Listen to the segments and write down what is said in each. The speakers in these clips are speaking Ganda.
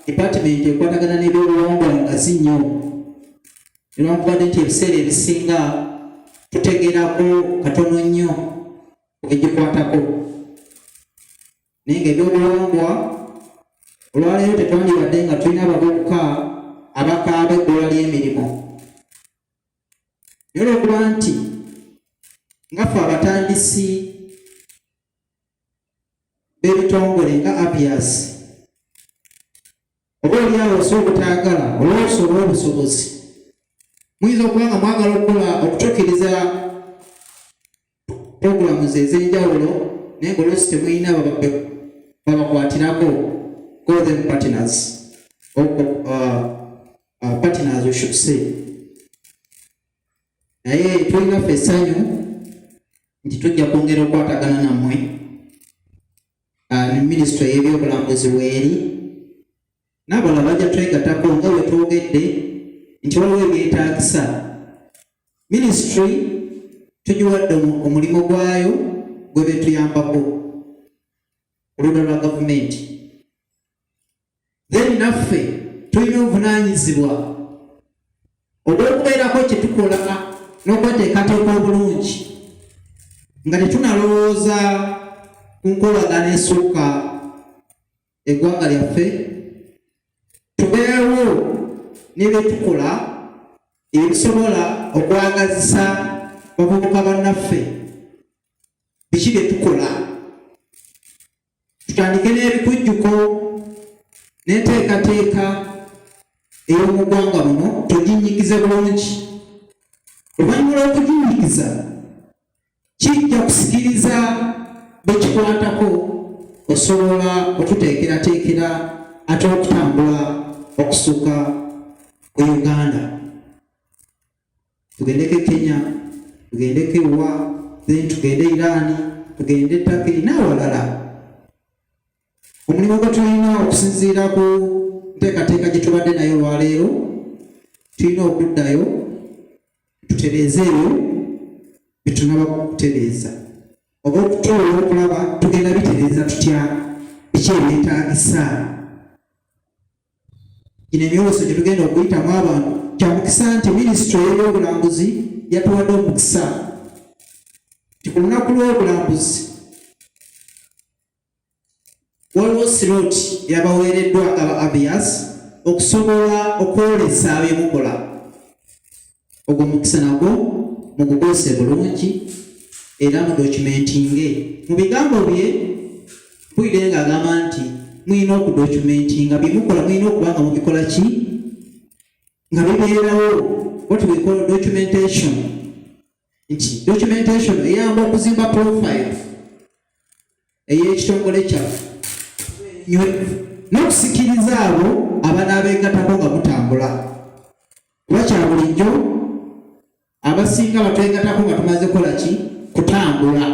department ekwatagana n'ebyobuwangwa ngazi nnyo newankubadde nti ebiseera ebisinga tutegerako katono nnyo egikwatako naye nga ebyobuwangwa olwaleero tetwandibadde nga tulina abavubuka abakaaba ebbula ly'emirimu naye olwokuba nti nga ffe abatandisi b'ebitongole nga abias oba olyawo osa obutaagala olwoosa olw'obusobozi muyinza okuba nga mwagala okukola okutuukiriza puroguramu ze ez'enjawulo naye ngaolwoosi temulina babakwatirako golden partners uh, uh, partners we should say naye tulina ffe essanyu nti tujja kwongera okukwatagana nammwe ah, ne minisitule y'ebyobulambuzi weeri n'abala bajja twegatako nga bwe twogedde nti waliwo ebyetaagisa minisitule tugiwadde omulimu gwayo gwe betuyambako oludda lwa gavumenti then naffe tulina obuvunaanyizibwa obw'okubeerako kye tukola n'okweteekateeka obulungi nga tetunalowooza ku nkolagana esukka eggwanga lyaffe tubeewo ne bye tukola ebisobola okwagazisa bavubuka bannaffe biki bye tukola Tutandike n'ebikujjuko n'enteekateeka ey'omu ggwanga muno tuginyigize bulungi. Oluvannyuma lw'okuginyigiza kijja kusikiriza bekikwatako osobola okuteekerateekera ate okutambula okusuka ku Uganda. tugendeko e Kenya, tugendeko ewa, then tugende Irani, tugende Turkey n'awalala. Omulimu gwe tulina okusinziira ku nteekateeka gye tubadde nayo olwaleero, tulina okuddayo tutereeze ebyo bye tunaba kutereeza oba okutuula okulaba tugenda bitereeza tutya biki ebyetaagisa gino emyoleso gye tugenda okuyitamu abantu kya mukisa nti minisitule y'ebyobulambuzi yatuwadde omukisa nti ku lunaku lw'obulambuzi waliwo sirooti yabaweereddwa aba abias okusobola okwolesa byemukola ogwo mukisa nagwo mugukozese bulungi era mudocumentinge mu bigambo bye bwire nga agamba nti mulina okudocumentinga byemukola mulina okuba nga mubikola ki nga bibeerawo what we call documentation nti documentation eyamba okuzimba profile ey'ekitongole kyaffe n'okusikiriza abo abanaabeegatako nga mutambula kuba kya bulijjo abasinga batwegatako nga tumaze kola ki kutambula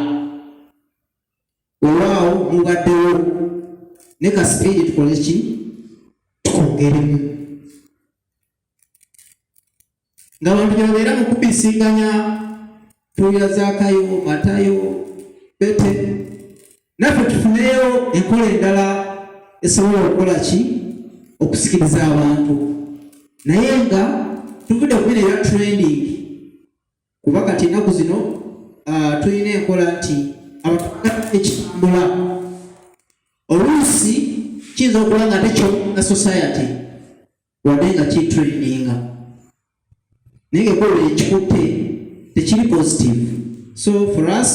olwaawo mubaddewo ne ka sipiidi tukole ki tukongeremu nga bantu gyebabeera mu kubisinganya tuwulira zaakayo matayo bete naffe tufuneyo enkola endala esobola okukola ki okusikiriza abantu naye nga tuvudde kubina eya training kuba kati ennaku zino ah, tulina enkola nti ekitambula oluusi kiyinza okuba nga tekyo na society wadde nga kitrendinga naye ngaekolera ekikutte tekiri positive so for us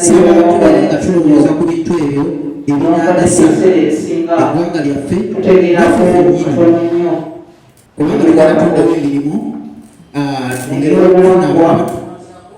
sibatugale nga tulowooza ku bintu ebyo ebinagasa eggwanga lyaffe nafe fenyini kubanga tukatondawo emirimu ah, ngeri okufuna abantu